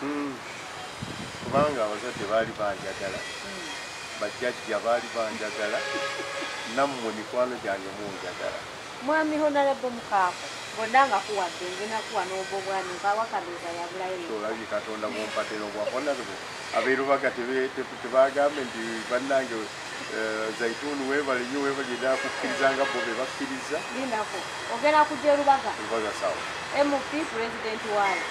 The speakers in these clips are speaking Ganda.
Hmm. kubanga abazadde baali banjagala hmm. bajjajja baali banjagala nammwe mikwano gyange munjagala mwami honalebo mukaako bonna nga kuwadde ngenakuwa n'obwo bwami nkawakabiza yabulayoolabye katonda bumpatera obwa honalebo abeerubaga tebagambe nti bannange Eh, zaituni webale nyo webale da kukkiriza nga bo be bakkiriza linako ogenda kujja erubaga erubaga sawa mp president wayo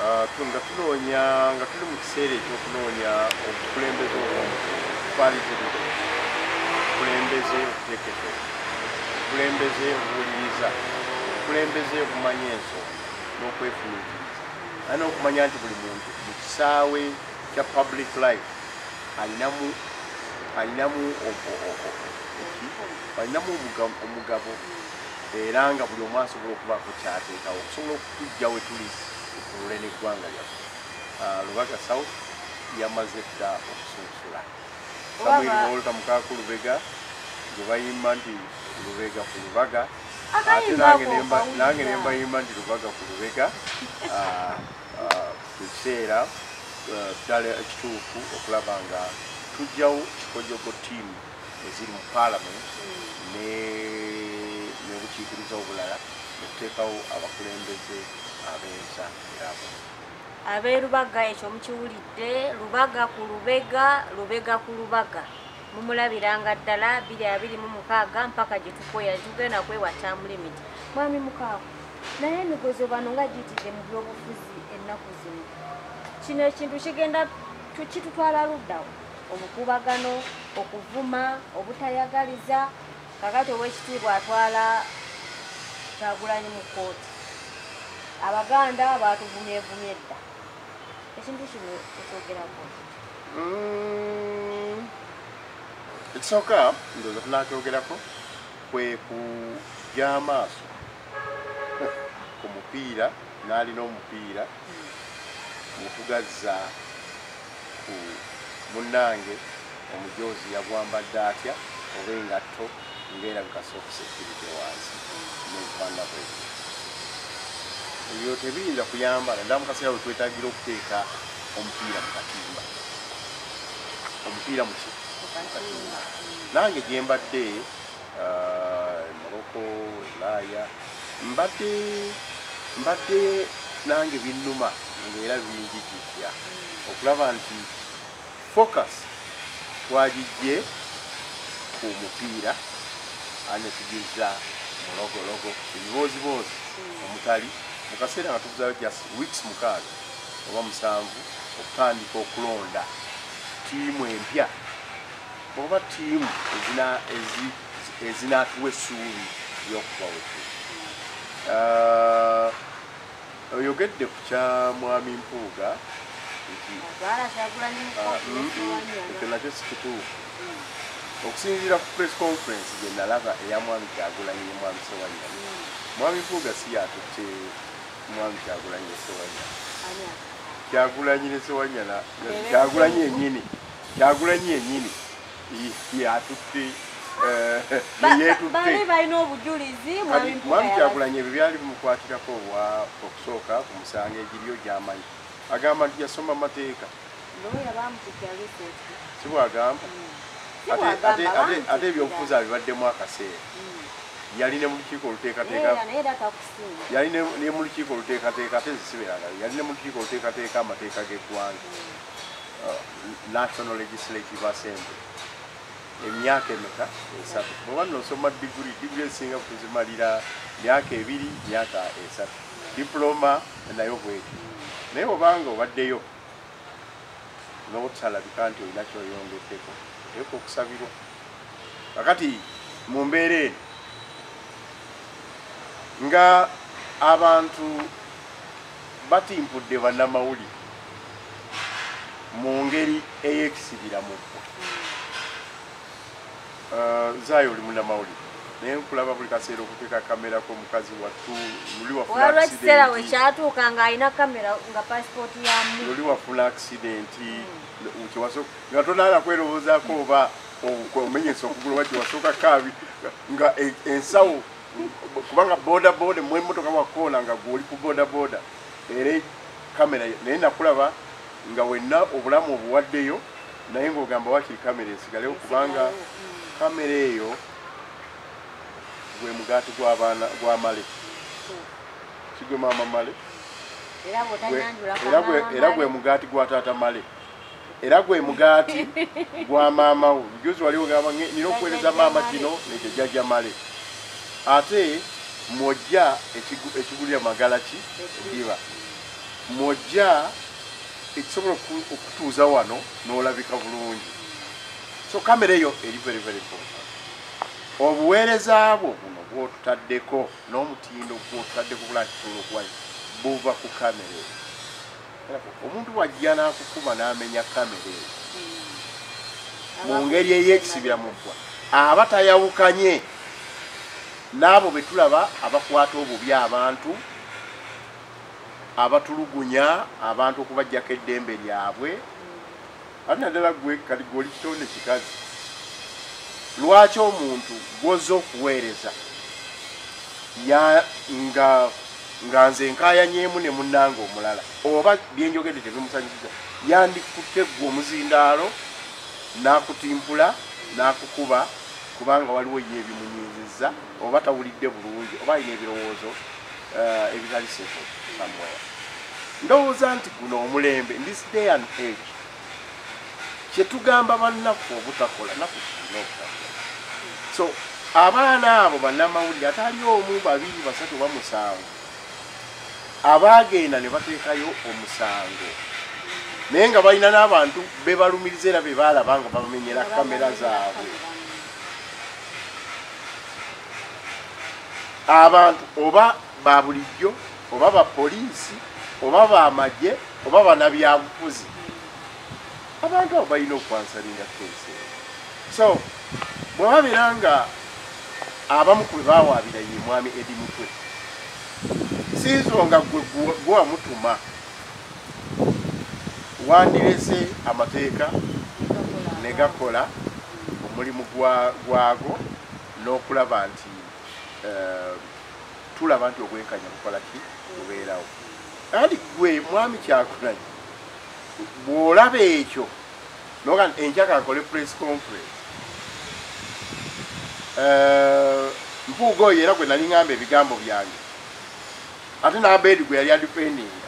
ah, nga tunoonya nga tuli mu kiseera ekyokunoonya obukulembeze obwalitirire obukulembeze obutekete obukulembeze obuwuliriza obukulembeze obumanya enso n'okwefumitiriza ani okumanya nti buli muntu mu kisaawe kya public life alinamu alinamu alinamu omugabo era nga buli omu asobola okubaako kyateekawo okusobola okutujja we tuli okulule n'eggwanga lyaffe ah, lubaga south yamaze dda okusunsula samuel wolta mukaku lubega gwe bayimba nti lubega ku lubaga ate nange nembayimba nti lubaga ku lubega ah, ah, ekiseera ah, ddala ekituufu okulaba nga tujjawo kikojogo tiimu eziri mu paalamenti nebukiikiriza obulala okuteekawo abakulembeze ab'ensa yabo abeerubaga ekyo mukiwulidde lubaga ku lubega lubega ku lubaga mumulabiranga ddala biri abiri mu mukaaga mpaka gye tukoya tugenda kwewa tamulimiti mwami mukaaga naye emigozo bano nga giyitidde mu byobufuzi ennaku zino kino ekintu kigenda kitutwala luddawo obukuubagano okuvuma obutayagaliza kakati owekitiibwa atwala kyagulanyi mu kkooti abaganda batuvumyevumye edda ekintu kino ekyogerako mm, ekisooka ndoza tunakyogerako kweku gy'amaaso ku mupiira n'alina omupiira mutugazza ku munnange omujoozi yagwambadde atya oba engatto ngaerabika sokusekiridde wansi nebukwanda bwe ebyo tebiyinza kuyamba naddala mu kaseera wetwetagira okuteeka omupiira mu katimba omupiira muki nange gyembadde Morocco, Ulaaya mbadde mbadde nange binnuma ng'era binjijijja okulaba nti focus twagijje ku mupiira anetugizza mulogologo ebibooziboozi omutali mu kaseera nga tubuzayo just weeks mukaaga oba musanvu okutandika okulonda tiimu empya oba tiimu ezinaatuwa essuubi ly'okubawetu uh, oyogedde ku kya mwami mpuuga ekyo nakyo sikituufu okusinziira ku press conference gye nalaba eya mwami kyagulanyi ne mwami sewanya mwami mpuuga si yatutte mwami kyagulanyi ne sewanya kyagulanyi ne sewanya kyagulanyi enyini Kyagulanyi yenyini yatutte eh, bali balina obujulizi mwami Kyagulanyi ebyo byali bimukwatirako wa okusooka ku musango egiriyo gyamanyi agamba nti yasoma mateeka sibwagamba hmm. ate ebyobufuzi abibaddemu akaseera hmm. yali ne mulukiiko oluteekateeka yali ne mulukiiko oluteekateeka ate zisibeeraga yali ne mulukiiko oluteekateeka amateeka g'eggwanga hmm. uh, national legislative assembly emyaka emeka esatu bwoba nosoma diguli diguli ezisinga kuzimalira myaka ebiri myaka esatu diploma nayo bweti naye obanga obaddeyo nobutalabika nti olina kyoyongeddeko oteeka okusabirwa kakati mu mbeera eno nga abantu Batimpudde bannamawulire mu ngeri ey'ekisibira mu ggwa. Uh, Zaayo oli munnamawulire naye nkulaba buli kaseera okuteeka kamera ko mukazi wattu luli wafuna ekiseera we kyatuuka ng'alina kamera nga pasipooti yamu luli wafuna akisidenti hmm. kyewasooka nga tonaala kwerowoozaako oba omenyesa okugula oba kyewasooka kaabi nga e, ensawo kubanga boda boda mwe motoka wa kona nga goli ku boda boda ere kamera naye nakulaba nga wenna obulamu obuwaddeyo naye ng'ogamba wakiri kamera esigalewo kubanga kamera eyo gwe mugaati gw'abaana gwa male kigwe maama male era gwe mugaati gwa taata male era gwe mugaati gwa maama wo juzi wali ogamba nina okuweereza maama kino nekyo jajja male ate mwojja ekigulira magala ki ediba mwojja ekisobola okutuuza wano n'olabika bulungi so kamera eyo eri very very important obuweereza bwo buno bwotutaddeko n'omutindo gwotutaddeko bulakitolokuwa buva ku kamera eyo omuntu wajja n'akukuba n'amenya kamera eyo hmm. mu ngeri ey'ekisibira mu ggwa aba tayawukanye n'abo be tulaba abakwata obubi abantu abatulugunya abantu okubajjako eddembe lyabwe ate naddala gwe kati gwe oli kitonde kikazi lwaki omuntu gwoza okuweereza nga nga nze nkayanyeemu ne munnanga omulala oba byenjogedde tebimusanyusiza yandikutte gwe omuzindaalo n'akutimpula n'akukuba kubanga waliwo ye ebimunyiizizza oba tawulidde bulungi oba alina ebirowoozo uh, ebitali seko somewhere ndowooza nti guno omulembe in this day and age kyetugamba bannaffe obutakola naku tulina okutakola so abaana abo bannamawulire atali omu babiri basatu oba musango abaagenda ne bateekayo omusango naye nga balina n'abantu bebalumiriza era bebaalaba nga babamenyera kamera zaabwe abantu oba babulijjo oba bapoliisi oba bamagye oba banabyabufuzi abantu abo balina okwansalinga kese so bwebabeera nga abamu kwe bawaabira ye mwami edi mutwe siizonga gwe gwewamutuma wandirese amateeka ne gakola omulimu gwago n'okulaba nti eh, tulaba nti obwenkanya bukola ki bubeerawo ali gwe mwami kyakulanye bw'olaba ekyo noga nti enjaka akole press conference eh, mpuuga oyo era gwe nali ngamba ebigambo byange ate n'abeedi gwe yali adipendinga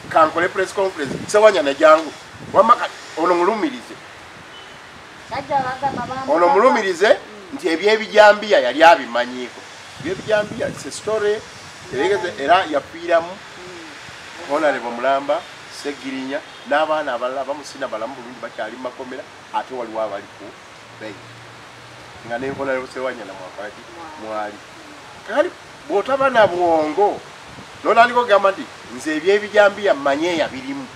kankole press conference sewanya najangu wamma kati ono mulumirize ono mulumirize nti ebyebijambiya yali abimanyiiko ebyebijambiya se story eregeze era yafiiramu honarebo mulamba segirinya n'abaana abalala bamusina balamu bulungi bakyali mu makomera ate waliwo abaliku nga nenkola yosewanya na mwakaki mwali kali bwotaba na bwongo nolaliko gamba nti nze ebyebijambiya manye yabirimu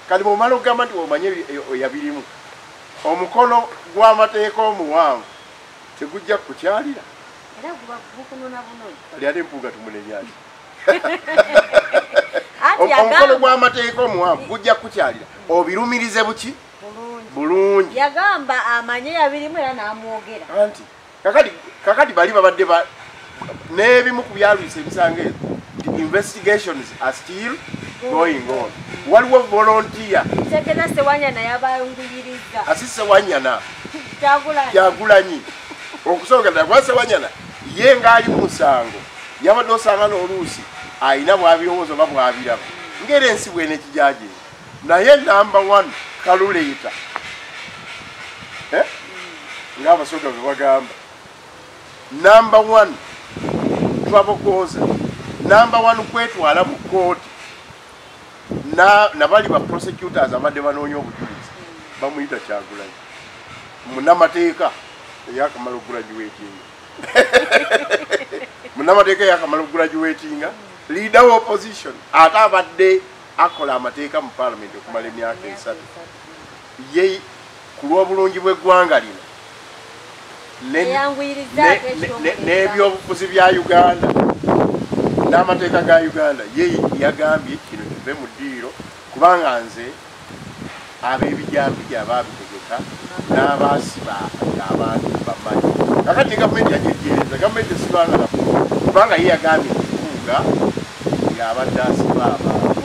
kati bwomala okugamba nti omanye yabirimu omukono gwamateeka omuwanvu tegujja kukukyalira ali ate mpuuga tumunenyaki omukono gwamateeka omuwanvu gujja kukukyalira obirumirize buki bulungi yagamba amanye yabirimu era namwogera anti kakati kakati bali babadde ba n'ebimu ku byalwisa ebisango ezo investigations are still going on waliwo volontiya sekena sewanyana yabayunguyiriza asi sewanyana kyagulanyi okusooka ddala kuba sewanyana ye ng'ali mu musango yabadde osanga n'oluusi alina bwabirowoozo oba bwabiraba ngaera ensi bwene kijajeera naye namba one kaluleeta eh? ngaabasoga bebagamba namba one twabogooza namba one kwetwala mu kooti nabali ba prosecutors abadde banoonya obujulizi bamuyita kyagulanyi munamateeka eyakamala okugulagiwetinga munamateeka eyakamala okugulagiwetinga leader wa opposition ate abadde akola amateeka mu palamenti okumala emyaka esatu ye ku lw'obulungi bw'eggwanga lino n'ebyobufuzi bya uganda n'amateeka ga uganda ye yagambye kino kive mu ddiiro kubanga nze ab'ebijaambiya baabitegeka n'abaasiba ng'abantu bamanyi kakati ne gavumenti yajejeereza gavumenti esibanga na kubanga ye yagambye nkuuga ng'abadde asiba abantu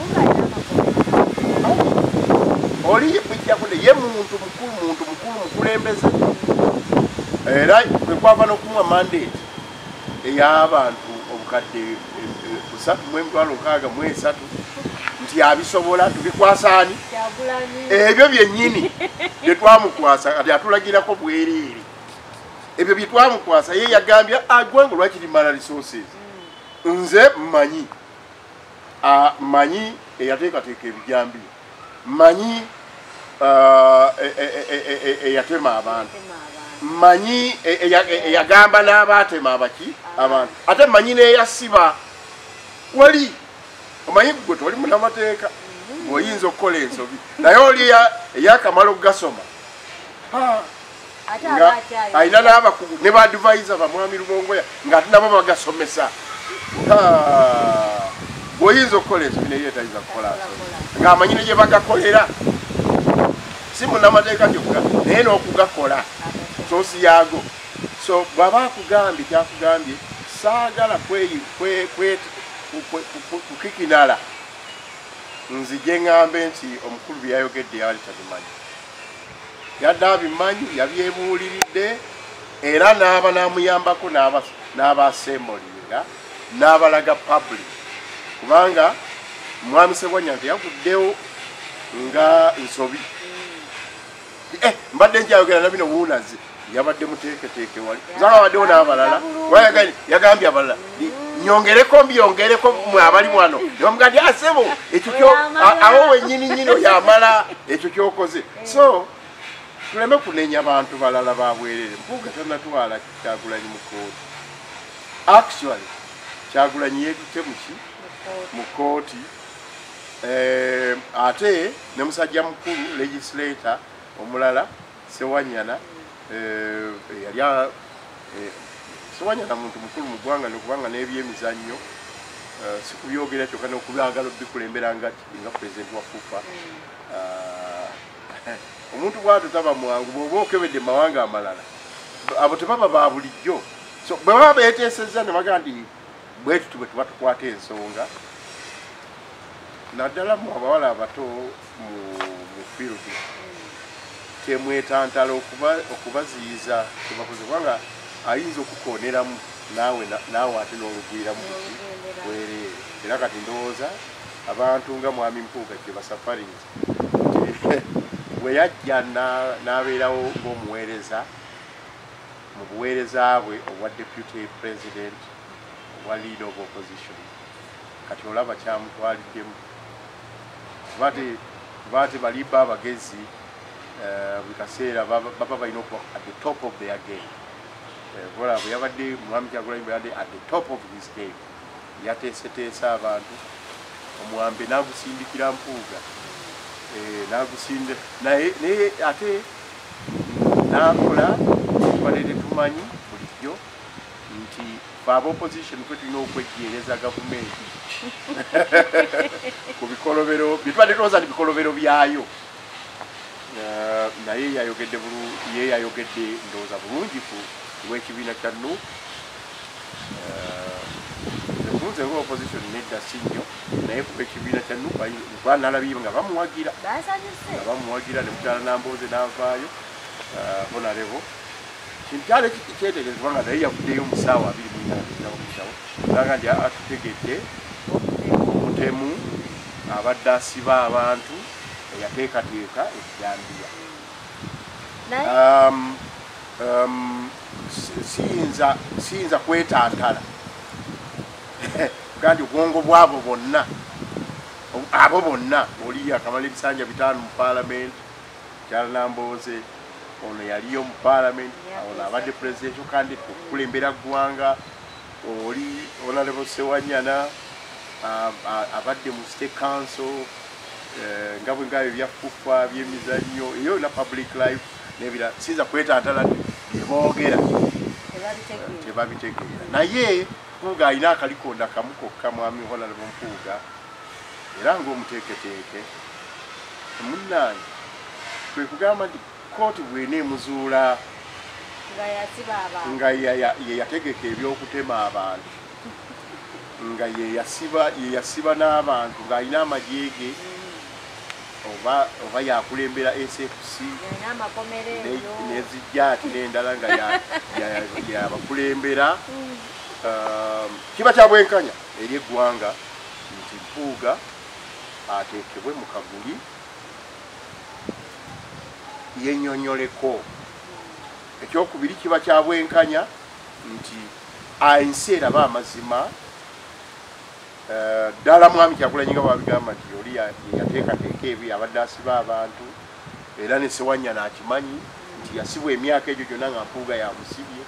oli mujjakude ye muntu mukulu muntu mukulu mukulembeze era kwekwava n'okumwa mandate ey'abantu obukadde eh, eh, busatu mu emitwalo nkaaga mu esatu nti abisobola tubikwasaani ebyo byennyini bye twamukwasa kati atulagirako bwereere ebyo bye twamukwasa ye yagambye agwange ah, lwaki limala resources hmm. nze mmanyi manyi eyateekateeka ebijambi manyi e, e, e, eyatema abantu manyi eyagamba n'abaatema abaki abantu ate manyi n'eyasiba wali omanyi gwe toli munamateeka mm-hmm. oyinza okukola ensobi naye oli eyakamala okugasoma alina n'abakugu ne baadivaiza bamwami lubongoya nga ati nabo bagasomesa bwoyinza okukola ensobi naye yetayinza kukola nsobi ng'amanyi ne gye bagakolera si munamateeka gyokka naye n'okugakola sosi yaago so bwaba akugambye kyakugambye saagala kukikinala nzije ŋambe nti omukulu byeyayogedde yali tabimanyi yadde abimanyi yabyebuuliridde era n'aba n'amuyambako n'abaaseemoliira n'abalaga public kubanga mwami sebwanya nti yaguddewo nga nsobi eh, mbadde njayogera nabino wuunazi yabadde muteeketeeke wali zaba abaddewo n'abalala yagambye abalala nyongereko mbyongereko mwe abali wano nebamuga ndi asebo ekyo kyo awo wenyini nyini oyamala ekyo kyokoze so tuleme kunenya bantu balala babwerere mpuuga tanatwala kyagulanyi mu kooti actually kyagulanyi yetute muki mu kooti eh, ate ne musajja mukulu legislator omulala Sewanyana eh, yali eh, Sewanyana muntu mukulu mu ggwanga nokubanga n'ebyemizannyo eh, sikubyogera kyokka nokubyagala obikulembera nga nga pulezidenti wa FUFA ah, omuntu bwatu taba mwangu bwoba okebedde mawanga amalala abo tebaba ba bulijjo so bwe baba beteesezza ne baga nti bwetuti bwe tuba tukwata ensonga naddala mu abawala abato mu field temwetantala okubaziyiza kyebakoze kubanga ayinza okukoneramu naawe naawe ate n'olugwiramu muki bwereere era kati ndowooza abantu nga mwami mpuuga gye basafarinzi bwe yajja n'abeerawo ng'omuweereza mu buweereza bwe obwa deputy president obwa lead of opposition kati olaba kyamutwaliddemu bati bati bali ba bagezi eh, buli kaseera baba balina okuba at the top of their game eh, kola bwe yabadde mwami kyagulanyi bwe yabadde at the top of his game yateeseteesa abantu omwambe n'agusindikira mpuuga eh, n'agusinde naye naye ate n'akola tubadde tetumanyi bulijjo nti Fe aba opposition fe tulina okwejjeereza gavumenti ku bikolobero bye tubadde tulowooza nti bikolobero byayo. Eh, naye yayogedde ye yayogedde ndowooza bulungi ku lw'ekibiina kya nu ekunze eh, lwa opposition nedda si nnyo naye kuba ekibiina kya nu kuba nalabye nga bamuwagira nga bamuwagira ne mukyala nambooze n'avaayo honarebo eh, Kintu kyali kyetegerezebwa nga naye yavuddeyo mu ssaawa abiri mu nnaana ezirabakitawo naga nti atutegedde omutemu abadde asiba abantu eyateekateeka ejjambiya um, um, siyinza siyinza kwetantala gandi obwongo bwabo bonna abo bonna oli akamala ebisanja bitaano mu paalamenti Mukyala Nambooze ono yaliyo mu parliament ono abadde presidential candidate okukulembera ggwanga oli honorable Sewanyana abadde mu state council eh, nga bwe ngabyo ebyafuffa byemizannyo eyo yona public life nebira sinza kwetantala byeboogera tebabitegeera naye mpuuga alina akalikonda kamu kokka mwami honorable mpuuga era ng'omuteeketeeke munnange kwe kugamba nti kkooti bwena emuzuula nga yeyategeka eby'okutema abantu nga yeyasiba n'abantu ng'alina amagye ge oba yakulembera sfc nezijja ati n'endala nga yabakulembera mm. um, kiba kya bwenkanya eri eggwanga nti Mpuuga ateekebwe mu kaguli yenyonyoleko. Ekyokubiri kiba kya bwenkanya nti ensi eraba amazima eh, ddala mwami Kyagulanyi nga bwabigamba nti oli yateekateeka ebyo yabadde asiba abantu era ne Sewanyana akimanyi nti yasibwa emyaka egyo gyonna nga Mpuuga yamusibye.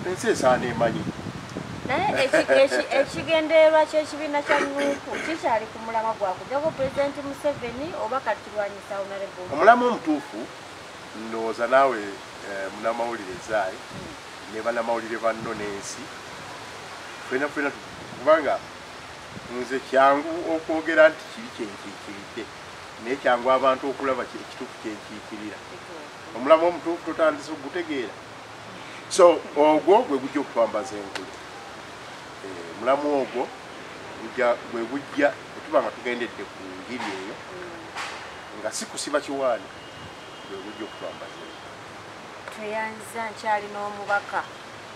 ensi esaana emanyi naye ekigendererwa kyekibiina kya nuuku kikyali ku mulama gwakujako pulezidenti museveni oba katilwanyisa onarebo omulama omutuufu ndowooza naawe eh, munamawulire zaayi ne banamawulire banno n'ensi fena fena kubanga nze kyangu okwogera nti kiri kyenkiikiridde naye kyangu abantu okulaba ekituufu kyenkiikirira omulamwa omutuufu totandise okugutegeera so ogwo gwe gujja okutwambaza enkulu eh, omulamwa ogwo gwe gujja otuba nga tugendedde ku ngiri eyo nga si kusiba kiwaani gwe gujja okutwambaza tweyanziza nkyali n'omubaka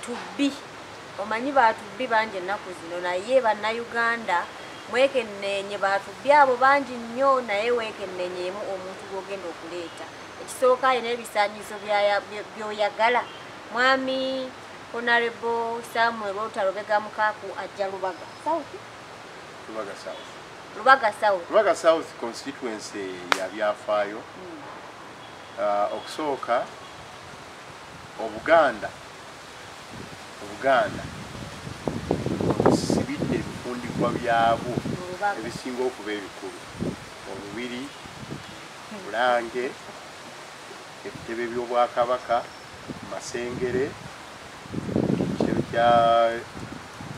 tubbi omanyi batubbi bangi ennaku zino naye bannayuganda mwekenneenye batubbi abo bangi nnyo naye wekenneenyemu omuntu gwogenda okuleeta ekisooka alina ebisaanyizo byoyagala mwami onarebo samuel wota lubega mukaaku ajja lubaga south lubaga south lubaga south lubaga south constituency ya byafaayo hmm. uh, okusooka obuganda obuganda obusibidde ebifundikwa byabwo ebisinga okuba ebikulu omubiri Bulange, ebitebe by'Obwakabaka, Masengere, ekitebe kya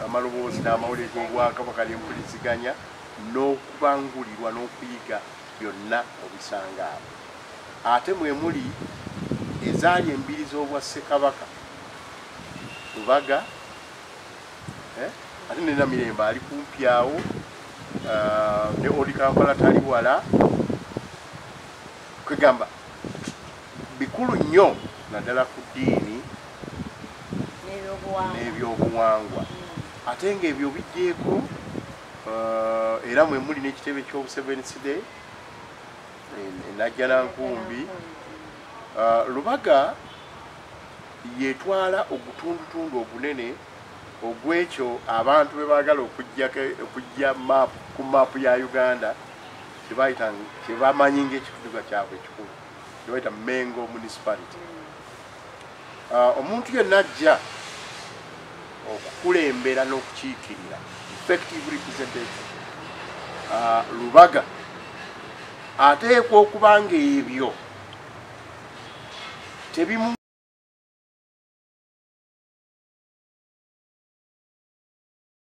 amaloboozi n'amawulire g'Obwakabaka n'empuliziganya n'okubangulirwa n'okuyiga byonna obisanga abo. Ate mwe muli ezaali embiri z'obwa Ssekabaka Lubaga, eh? ate ne Namirembe ali kumpi awo eh, ne Old Kampala tali wala kwegamba bikulu nnyo naddala ku ddiini n'ebyobuwangwa hmm. ate ng'ebyo bigyeko eh, era mwe muli n'ekitebe ky'obusevensiday enajjanankumbi lubaga y'etwala ogutundutundu ogunene ogw'ekyo abantu be baagala okujja ku maapu ya uganda kye bamanyi ng'ekitunduga kyabwe ekikulu kye bayita mengo municipality ah, omuntu yenna ajja okukulembera n'okukiikirira effective representation ah, lubaga ateekwa okuba ng'ebyo tebimu